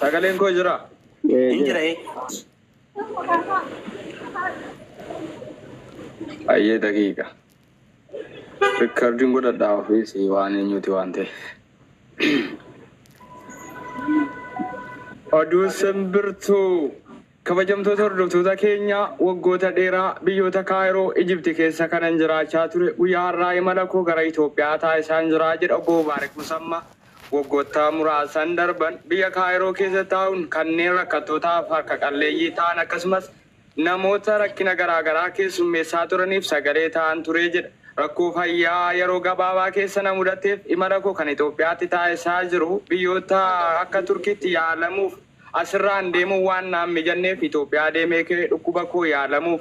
Sagaleen koo jiraa? Ee, Hin jira. jira ee. Ayyee daqiiqa. Rikardiin godhadhaa ofiis waan eenyuuti waan ta'e. Oduu simbirtuu. Kabajamtoota hordoftoota keenya, waggoota dheeraa biyyoota Kaayiroo, Ijipti keessa kanan jiraachaa ture, guyyaa har'aa imala koo gara Itoophiyaa taasisaan jira, jedha Obbo Mubaarik Musamma. Waggoottaa muraasan darban biyya Kaayiroo keessa taa'uun kanneen rakkattootaaf harka qalleeyyii ta'an akkasumas namoota rakkina garaa garaa keessummeessaa turaniif sagalee ta'aan ture jedha. Rakkoo fayyaa yeroo gabaabaa keessa na mudateef imala koo kan Itoophiyaatti taasisaa jiru biyyoota akka Turkiitti yaalamuuf. As irraan deemuun waan naan mijanneef Itoophiyaa deemee ka'e dhukkuba koo yaalamuuf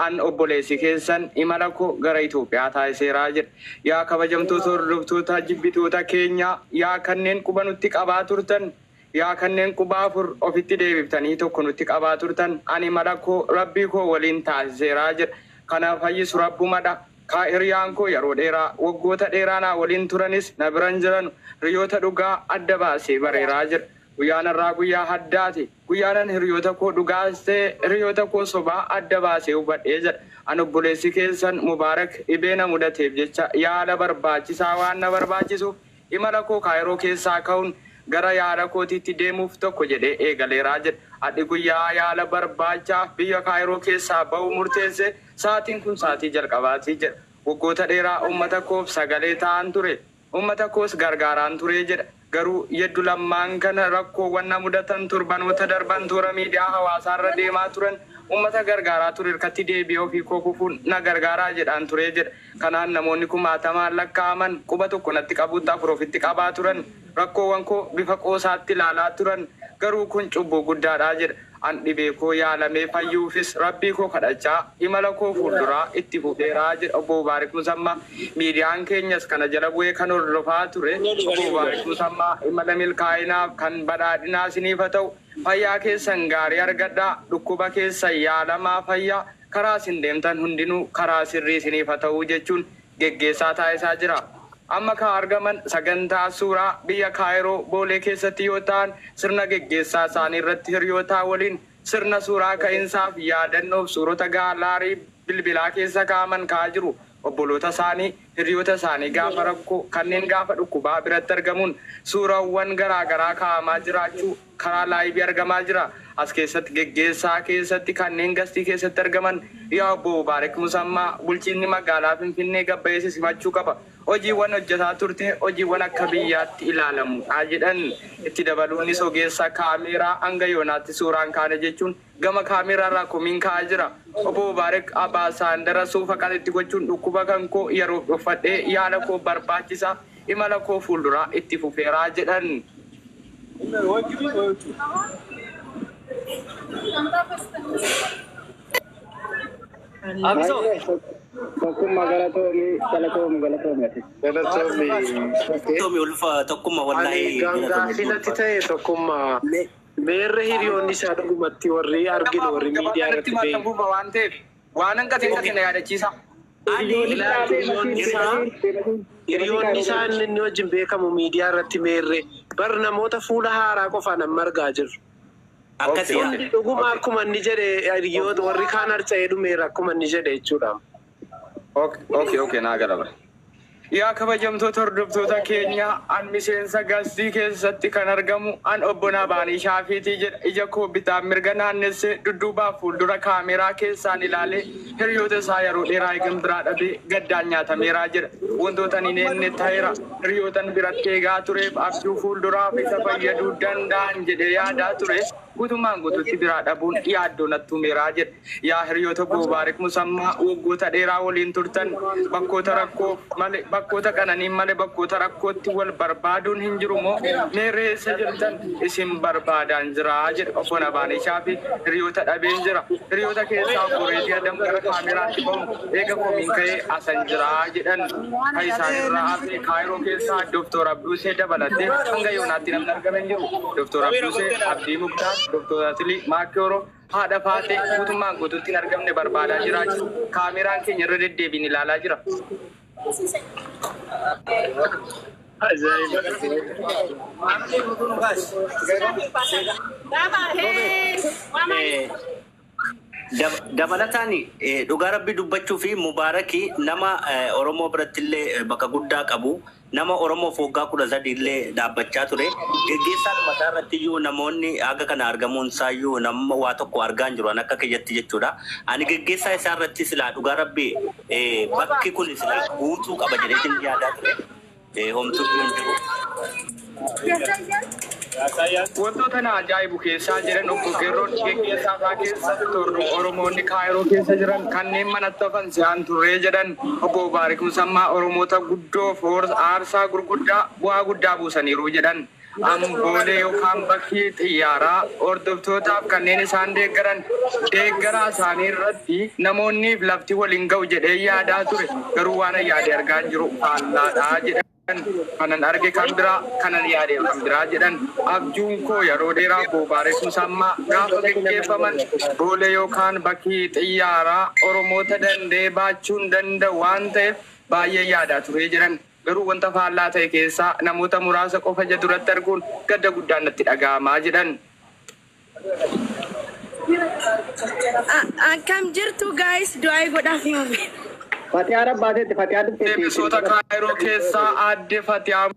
an obboleessi keessan imala koo gara Itoophiyaa taasiseera jedhe. Yaa kabajamtoota hordoftoota jibbitoota keenyaa, yaa kanneen quba nutti qabaa turtan, yaa kanneen quba afur ofitti deebiftanii tokko nutti qabaa turtan, an imala koo Rabbii koo waliin taasiseera jedha. Kan na fayyisu Rabbuma dha. Ka hiriyaan koo yeroo dheeraa, waggoota dheeraa naa waliin turanis na bira hin jiranu. Hiriyoota dhugaa adda baasee bareera jedha. Guyyaan har'aa guyyaa addaati. Guyyaanan hiriyootakoo dhugaas ta'e hiriyootakoo sobaa adda baasee hubadhe jedha. An obboleessi keessan Mubaarak dhibee na mudateef jecha yaala barbaachisaa waan na barbaachisuuf imalakoo Kaayiroo keessaa ka'uun gara yaala kootiitti deemuuf tokko jedhee eegaleera jedhe. Adhi guyyaa yaala barbaachaaf biyya Kaayiroo keessaa ba'uu murteesse. Sa'aatiin kun sa'aatii jalqabaati jedha. Waggoota dheeraa uummatakoof sagalee ta'aan ture. Ummata koos gargaaraan ture jedha. Garuu Yeddu Lammaan kana rakkoowwan na mudatan torbanoota darban toora miidiyaa hawaasaa irra deemaa turan ummata gargaaraa ture irkatti deebi'ee ofii koo kufuun na gargaaraa jedhaan ture jedha. Kanaan namoonni kumaatamaan lakkaa'aman quba tokko natti qabuutti afur ofitti qabaa turan. Rakkoowwan koo bifa qoosaatti ilaalaa turan. Garuu kun cubbuu guddaadha jedha. An dhibee koo yaalamee fayyuufis Rabbii koo kadhachaa imala koo fuulduraa itti fufeera jedha Obbo Mubaarik Musammaa. Miidiyaan keenyas kana jala bu'ee kan hordofaa ture. Obbo Mubaarik Musammaa imala milkaa'inaaf kan badhaadhinaa isiniif haa ta'u. Fayyaa keessan gaarii argadhaa. Dhukkuba keessan yaalamaa fayyaa. Karaa isin deemtan hundinuu karaa sirrii isiniif haa ta'u jechuun geggeessaa taasisaa jira. Amma kan argaman sagantaa suuraa biyya Kaayiroo Boolee keessatti yoo ta'an sirna geggeessaa isaanii irratti hiriyootaa waliin sirna suuraa ka'insaaf yaadannoof suurota gaalaarii bilbilaa keessa kaa'aman ka'aa jiru. Obboloota isaanii, hiriyoota isaanii gaafa rakkoo, kanneen gaafa dhukkubaa biratti argamuun suurawwan garaagaraa kaa'amaa jiraachuu. Karaa live argamaa jira. As keessatti geggeessaa keessatti kanneen gastii keessatti argaman Yaa Obbo Mubaarik Musammaa bulchiinni magaalaa Finfinnee gabbayee si simachuu qaba. Hojiiwwan hojjetaa turte hojiiwwan akka biyyaatti ilaalamu dha jedhan. Itti dabaluunis ogeessa kaameeraa hanga yoonaatti suuraa hin kaane jechuun Gama camera irraa komiin ka'aa jira. Obbo Mubaarek Abaasaandara suufa qalitti gochuun dhukkuba kan koo yeroof dhoffadhee yaala koo barbaachisa imala koo fuulduraa itti fufeera jedhan. Meerre hiriyoonni isaa dhugumatti warri arginu warri miidiyaa irratti ba'e. Ani laal hiriyoonni isaa hiriyoonni isaa inni inni wajjin beekamu miidiyaa irratti meerre bar namoota fuula haaraa qofaan amma argaa jirru. Akkasi yaa. Dhuguma akkuma inni jedhe hiriyoota warri kaan harca'ee dhumeera akkuma inni jedhe jechuudha. Okay, okay, naa gala bara. Yaa kabajamtoota hordoftoota keenya an miseensa gastii keessatti kan argamu an obbo Naabaanii Shaafiitii jedha. Ija koo bitaa mirga naannessee dudduubaaf fuuldura kaameeraa keessaan ilaalee hiriyoota isaa yeroo dheeraa eegan biraa dhabee gaddaan nyaatameeraa jedha. Wantoota ani neenne ta'eera. Hiriyootan biratti eegaa tureef abjuu fuulduraaf isa fayyaduu danda'an jedhee yaadaa ture guutummaan guutuutti biraa dhabuun yaaddoo nattuumeeraa jedha. Yaa hiriyoota koo Baariq Musammaa waggoota dheeraa waliin turtan bakkoota rakkoo male bakkoota qananiin male bakkoota rakkootti wal barbaaduun hin jiru moo mee ree eessa jirtan isin barbaadaan jira jedhe obbo Nabaaniishaa fi hiriyoota dhabeen jira hiriyoota keessaa obbo Reedii Adam gara kaameraatti bahuun eega komiin ka'ee asan jira jedhan ka isaan irraa hafe Kaayiroo keessaa Dr. Abduusee dabalatee hanga yoonaatti namni argame hin jiru Dr. Abduusee Abdii Muktaar Dr. Atilii Maakiyooroo Haadha Faaxee guutummaan guutuutti hin argamne barbaadaa jiraachuu kaameraan keenya irra deddeebiin ilaalaa jira. Dabalataan dhugaa rabbii dubbachuuf Mubaarak nama Oromoo birattillee bakka guddaa qabu. Nama Oromoof waggaa 13 illee dhaabbachaa ture. Geggeessaadhuma isaa irratti iyyuu namoonni haga kana argamuun isaa iyyuu namma waa tokko argaa hin jiru an akka kiyyatti jechuu dha. Ani geggeessaa isaa irratti silaa dhugaa Rabbii bakki kuni silaa guutuu qaba jedheetiin yaadaa ture. Homtuu iyyuu hin jiru. Wantoota na ajaa'ibu keessaa jedhan Obbo Geerroon, geggeessaa isaa keessa torba Oromoonni Kaayiroo keessa jiran kanneen manatti hafan si'aan turree jedhan. Obbo Mubaarik Musammaa Oromoota guddoof aarsaa gurguddaa bu'aa guddaa buusaniiru jedhan. Am boolee yookaan bakki xiyyaaraa hordoftootaaf kanneen isaan deeggaran deeggaraa isaanii irratti namoonniif lafti wal hin ga'u jedheen yaadaa ture garuu waanan yaade argaan jiru faallaadha jedhan. kanan arge kan biraa kanan yaade kan biraa jedhan abjuun koo yeroo dheeraa boobaaresuu sammaa gaafa geggeeffaman boolee yookaan bakki xiyyaaraa oromoota danda'ee baachuun danda'u waan ta'eef baay'een yaadaa turee jedhan garuu wanta faallaa ta'e keessaa namoota muraasa qofa ija duratti arguun gadda guddaan natti dhaga'amaa jedhan. Akkam jirtu guys du'aayii godhaaf himame. Fatiyaa rabbaateetti fatiyaa dhufteetti. Deebisoota Kaayiroo keessaa aadde Fatiyaa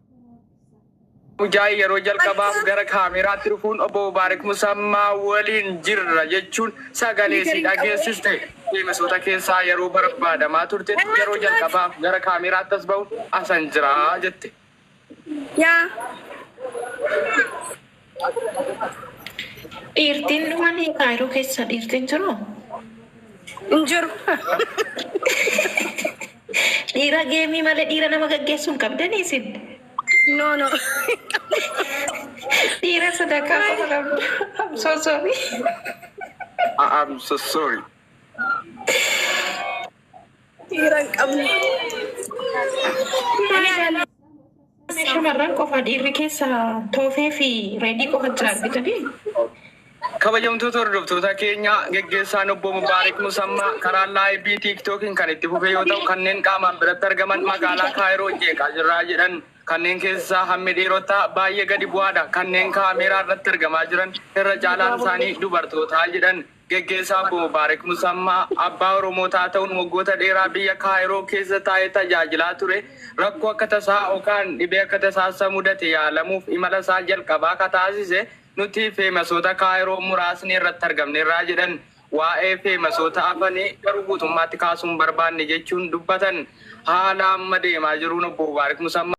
Mujaay yeroo jalqabaaf gara kaameraatti dhufuun obbo Mubaarik Musammaa waliin jirra jechuun sagalee isii dhageessiste. Deebisoota keessaa yeroo barbaadamaa turtetti yeroo jalqabaaf gara kaameraatti as bahuun asan jira jette. Yaa Dhiirtiin dhumani kaayiroo keessa dhiirtiin jiru? hin jiru. Dhiira geemii malee dhiira nama gaggeessuu hin qabdanii isin? No no. Dhiira sadarkaa qofa qabdu. I'm so sorry. I- I'm so sorry. Dhiiran qabnu. Shamarran qofa dhiirri keessa toofee fi reedii qofa jira argitanii. Kabajamtoota hordoftoota keenya geggeessaan obbo Mubaarik Musammaa karaa laayivii tiiktookiin kan itti fufee yoo ta'u kanneen qaamaan biratti argaman magaalaa Kaayiroo jeeqaa jirraa jedhan kanneen keessaa hammi dhiirotaa baay'ee gadi bu'aadha kanneen kaameeraa irratti argamaa jiran irra caalaan isaanii dubartootaa jedhan Geggeessaa Obbo Mubaarik Musammaa abbaa Oromootaa ta'uun waggoota dheeraa biyya Kaayiroo keessa taa'ee tajaajilaa ture rakkoo akka tasaa yookaan dhibee akka tasaa isa mudate yaalamuuf imala isaa jalqabaa ka taasise nuti feemasoota Kaayiroo muraasni irratti argamneerraa jedhan waa'ee feemasoota afanii garuu guutummaatti kaasuu hin barbaanne jechuun dubbatan haala amma deemaa jiruun Obbo Mubaarik Musammaa.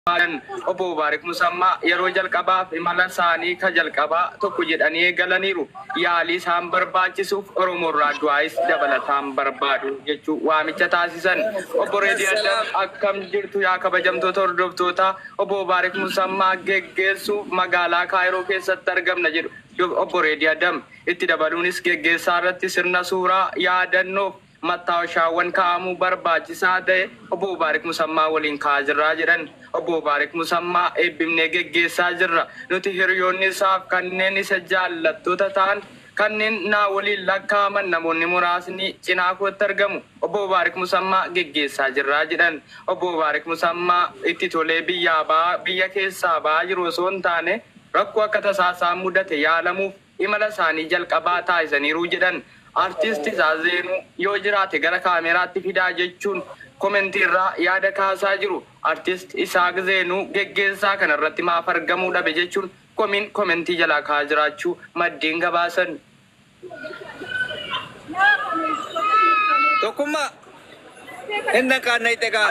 Kan Obbo Mubaarik Musammaa yeroo jalqabaaf imala isaanii ka jalqabaa tokko jedhanii eegalaniiru. Yaalii isaan barbaachisuuf Oromoorraa du'aayis dabalataan barbaadu jechuun waamicha taasisan. Obbo Reedii Adam akkam jirtu yaa kabajamtoota hordoftootaa Obbo Mubaarik Musammaa geggeessuuf magaalaa Kaayiroo keessatti argamna jedhu Obbo Reedii Adam. Itti dabaluunis geggeessaarratti sirna suuraa yaadannoof Mattaawashaawwan kaa'amuu barbaachisaa ta'e Obbo Mubaarik Musammaa waliin kaa'aa jirra jedhan. Obbo Mubaarik Musammaa eebbifnee geggeessaa jirra. Nuti hiriyoonni isaaf kanneen isa jaallattoota ta'an kanneen naa waliin lakkaa'aman namoonni muraasni cinaa kootti argamu. Obbo Mubaarik Musammaa geggeessaa jirra jedhan. Obbo Mubaarik Musammaa itti tolee biyyaa ba'aa biyya keessaa ba'aa jiru osoo hin taane rakkoo akka tasaa isaan mudate yaalamuuf imala isaanii jalqabaa taasisaniiru jedhan Artiist Tizaazeenu. Yoo jiraate gara kaameeraatti fidaa jechuun komentii irraa yaada kaasaa jiru. Artiist Isaaq Zeenuu geggeessaa kana irratti maaf argamuu dhabe jechuun komiin komentii jalaa ka'aa jiraachuu maddeen gabaasan. Tokkummaa! Hin dhaqaan na hixe kaa.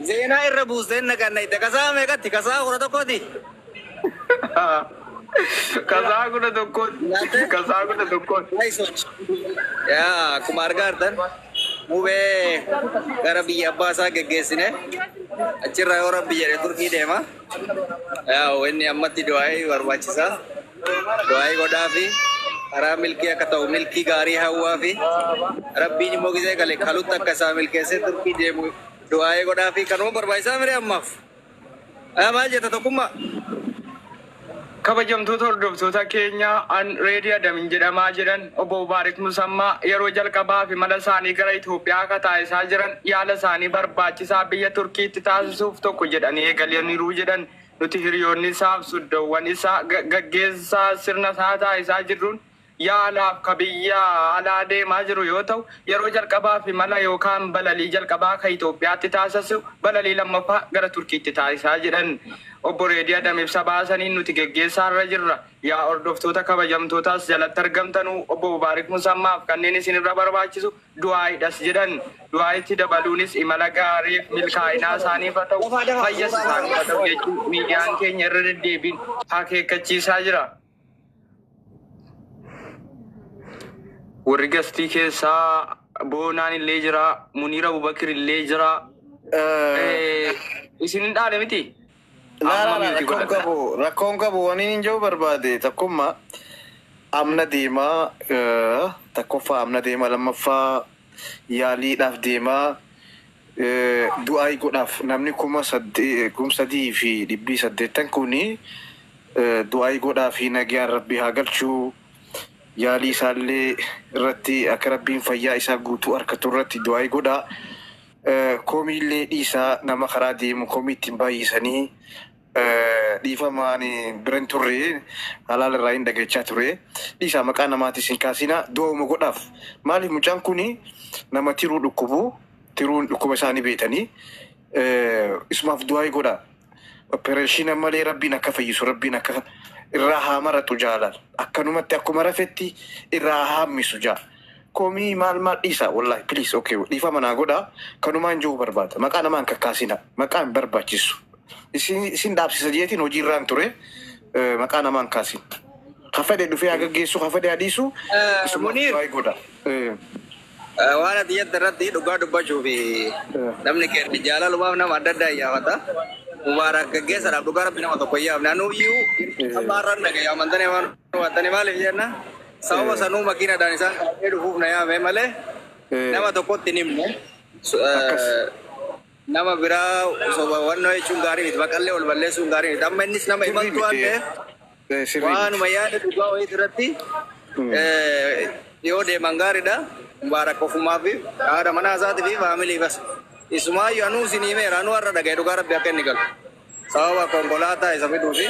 Zeenaa irra buusteen naqanna itti kasaa meeqatti kasaa kudha tokkooti. Kasaa kudha tokkooti. Kasaa kudha tokkooti. Yaa akkuma argaa jirtan mubee gara biyya abbaa isaa geggeessine achirraa yoo rabbi jedhe turkii deema. Yaa inni ammatti du'aa'ee barbaachisa. Du'aa'ii godhaafi karaa milkii akka ta'u milkii gaarii hawwaafi. Rabbiin immoo gizee gale kalutti akka isaa milkeessee Turkii deemu du'aa'ii godhaafi. Kanuma barbaachisaa mire ammaaf? Haa maal jetta tokkummaa? Kabajamtoota hordoftoota keenya, an Reedii Adamin jedhama, jedhan Obbo Mubaarik Musammaa yeroo jalqabaaf imala isaanii gara Itoophiyaa ka taasisaa jiran yaala isaanii barbaachisaa biyya Turkiitti taasisuuf tokko jedhanii eegalaniiru jedhan Nuti hiriyoonni isaaf suddoowwan isaa gaggeessaa sirna isaa taasisaa jirruun yaalaaf ka biyya alaa deemaa jiru yoo ta'u, yeroo jalqabaaf imala yookaan balalii jalqabaa ka Itoophiyaatti taasisu balalii lammaffaa gara Turkiitti taasisa jedhan Obbo Reedii Adam ibsa baasaniin nuti geggeessaa irra jirra. Yaa hordoftoota kabajamtoota as jalatti argamtanuu Obbo Mubaarik Musammaaf kanneen isin irra barbaachisu du'aayiidhas jedhan. Du'aayiitti dabaluunis imala gaariif milkaa'inaa isaaniif haa ta'u, fayyas isaaniif haa ta'u jechuun miidiyaan keenya irra deddeebiin akeekkachiisaa jira. Warri gastii keessaa boonaan illee jira, Muniir Abubakir illee jira. Isin hin dhaane miti? Amma mute Rakkoon godhadha. qabu rakkoon qabu waniin hin jedhu barbaade takkumma amna deema eh, takkoffaa amna deema lammaffaa yaaliidhaaf deema eh, du'aayi godhaaf namni kuma sadde- eh, kum sadii fi dhibbii saddeettan kuni eh, du'aayi godhaa fi nagayaan rabbi haa galchuu yaalii isaallee irratti akka rabbiin fayyaa isaa guutuu arkatu irratti du'aayi godhaa Komiillee dhiisaa nama karaa deemu komii ittiin baay'isanii dhiifama ani bira hin turre halaala irraa hin dhagachaa ture dhiisaa maqaa namaatis hin kaasinaa du'auma godhaaf maaliif mucaan kun nama tiruu dhukkubu tiruun dhukkuba isaa ni beetanii isumaaf du'aa'ii godhaa. Oppereeshiina malee rabbiin akka fayyisu rabbiin akka irraa haa maraxu jaalal akkanumatti akkuma rafetti irraa haa haammisu ja komii maal maal dhiisa wallahi please ok dhiifama naa godha kanumaan ja'uu barbaada maqaa namaa hin kakkaasina maqaa hin barbaachisu isin isin dhaabsisa jeetiin hojii irraan ture eh, maqaa namaa hin kaasin ka fedhe dhufee haa gaggeessu ka fedhe haa dhiisu Eh, isuma Muniir. waa'ee godha Eh, Waan ati jette irratti dhugaa dubbachuu fi namni keenya jaalalumaaf nama adda addaa iyyaafata. Mubaarak gaggeessadhaaf dhugaa rabbi nama tokko iyyaafne. Anuuyyuu amma har'a hin dhagaye amantanee waan hubattanii maaliif jenna sababa sanuu makiinadhaan isaan qabadhee dhufuuf na yaame malee nama tokkotti hin himne. Akkas. Nama biraa soba wannoo jechuun gaarii miti. Maqallee wal balleessuun gaarii miti. Amma innis nama Sirrii imaltuu waan miti. ta'eef Eh, Sirrii miti. waanuma yaada dhugaa wayiiti irratti Mm. eh, yoo deeman gaariidha. Mubaarak ofumaa fi haadha manaa isaatii fi faamilii bas. Isumaayyuu anuu isin himeera. Anuu har'a dhaga'e dhugaa rabbi akka inni galu. Sababa konkolaataa isa fiduu fi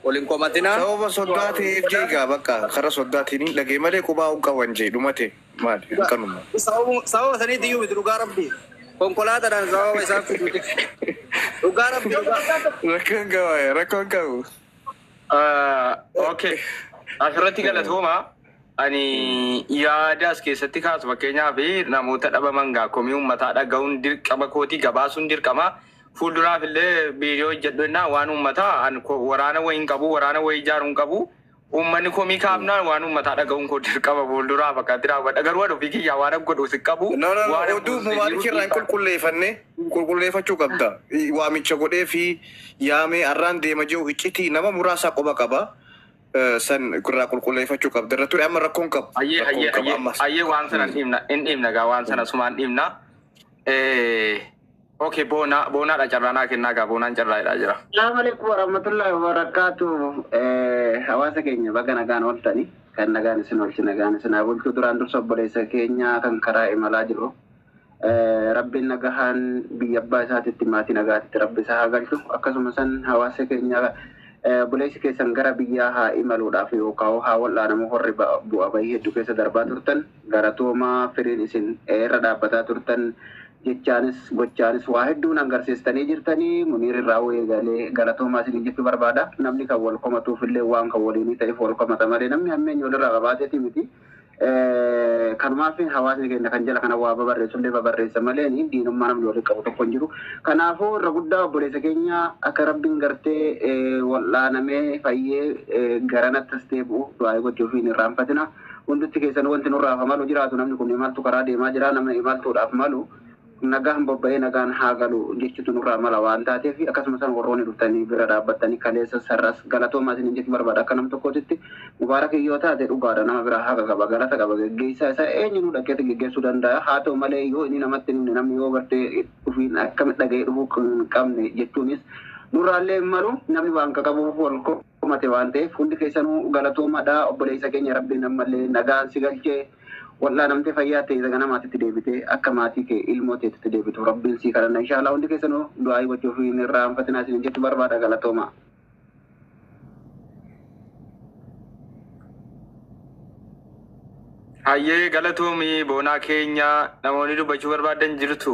wal hin komatinaa. Sababa soddaa ta'eef jee egaa bakka kara soddaatiin hin dhagee malee qubaa hin qaban jee dhumatee. Maali? Dhugaa. Akkanuma. Sababuma sababa saniitti iyyuu miti dhugaa rabbii. Konkolaataadhaan sababa isaa fiduuti. Dhugaa rabbii dhugaa. Rakkoon qabu, rakkoon qabu. Okay. Asirratti galatooma. Ani yaada as keessatti kaasu fakkeenyaaf namoota dhabaman gaa komii uummataa dhaga'uun dirqama kooti gabaasuun dirqama. Fuulduraaf illee biiroo hojjedhu jennaa waan uummataa an ko- waraana wayii hin qabu waraana wayii ijaaruu hin qabu Uummanni komii kaafnaan waan uummataa dhaga'uun koo dirqama fuulduraaf akkanatti raawwadha. Garuu ani ofii kiyyaa waanan godhuus hin qabu. No, no, no. Waanan Oduu buusu hin Mubaarikii jiru. irraa hin Dhiibbaa- qulqulleeffanne qulqulleeffachuu qabda. Waamicha godhee fi yaamee arraan deema jiru hiccitii nama muraasaa qoba qaba. Eh, San irraa qulqulleeffachuu qabda. Irra ture amma rakkoon qabu. Ayyee Rakkoon ayyee qabu ayyee ammas. ayyee waan sana hin dhiibna hin dhiibna gaa waan sana sumaan dhiibna. Eh, Okay boona boonaadha carraa naa kennaa gaa boonaan carraa jedhaa jira. Salaamu alaikum warahmatullahi wabarakatuh. Eh, Hawaasa keenya baga nagaan ooltani. Kan nagaan isin oolchi nagaan isin haa bulchu. Duraan dursa obboleessa keenya kan karaa imalaa jiru. Eh, Rabbiin nagahaan biyya abbaa isaatitti maatii nagaatitti rabbi isaa haa galchu. Akkasuma san hawaasa keenya eh, obboleessi keessan gara biyyaa haa imaluudhaaf yookaan haa wal'aanamu horri ba- bu'aa bahii hedduu keessa darbaa turtan. Galatooma firiin isin irra dhaabbataa turtan jechaanis gochaanis waa hedduu na garsiistanii jirtani muniir irraahuu eegalee galatoomaa isiniin jechuu barbaada namni kan wal komatuuf illee waan kan waliinii ta'eef wal komata malee namni hammeenya walirraa qabaateeti miti kanumaafin hawaasni keenya kan jala kana waa babarreessu illee babarreessa malee ni diinummaa namni waliin qabu tokko hin jiru kanaafuu irra guddaa obboleessa keenya akka rabbiin gartee wal'aanamee fayyee garanatti as deebi'u du'aa'ii gochuufiin irraanfatina Hundumti keessanuu wanti nurraaf malu jiraatu namni kun imaltu karaa deemaa jira nama imaltuudhaaf malu nagaan bobba'ee nagaan haa galu jechutu nurraa mala waan taateef akkasumasan warrooni dhuftanii bira dhaabbattanii kaleessas har'as galatoomaa isiniin jechuu barbaada akka nam tokkootitti Mubaarak yoo taate dhugaadha nama biraa haqa qaba galata qaba geggeessaa isaa eenyunuu dhaqeeti geggeessuu danda'a haa ta'u malee yoo inni namatti hin himne namni yoo bartee dhufiin akkamitti dhaga'ee dhufuu hin qabne jechuunis nurraallee hin malu namni waan qaqabuuf wal dhumate waan ta'eef hundi keessanu galatoomadha obboleessa keenya rabbiin ammallee nagaan si galche wal'aanamte fayyaa ta'e ganamaatitti deebite akka maatii kee ilmoo teetitti deebitu rabbiin sii kadhanna inshaallah hundi keessanu du'aayii gochuuf hin irraanfatinaa isin jechu barbaada galatooma. Hayyee galatoomi boonaa keenya namoonni dubbachuu barbaadan jirtu.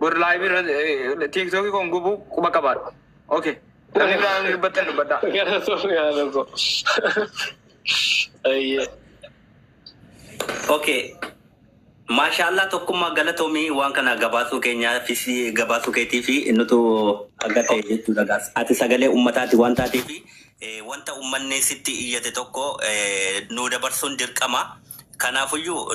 bor live irra eh, tiktok kon gubu quba qabaadhu okay namni biraa yoo dubbattan dubbadhaa Galatoomii haadha koo. Ayyee. Okay. Maashaallah tokkummaa galatoomii waan kana gabaasuu keenyaa fi si- gabaasuu keetii fi nutu akka ta'e jechuudha gaas. Ati sagalee uummataati waan taatee fi eh, wanta uummanni sitti iyyate tokko eh, nuu dabarsuun dirqama. Kanaafuyyuu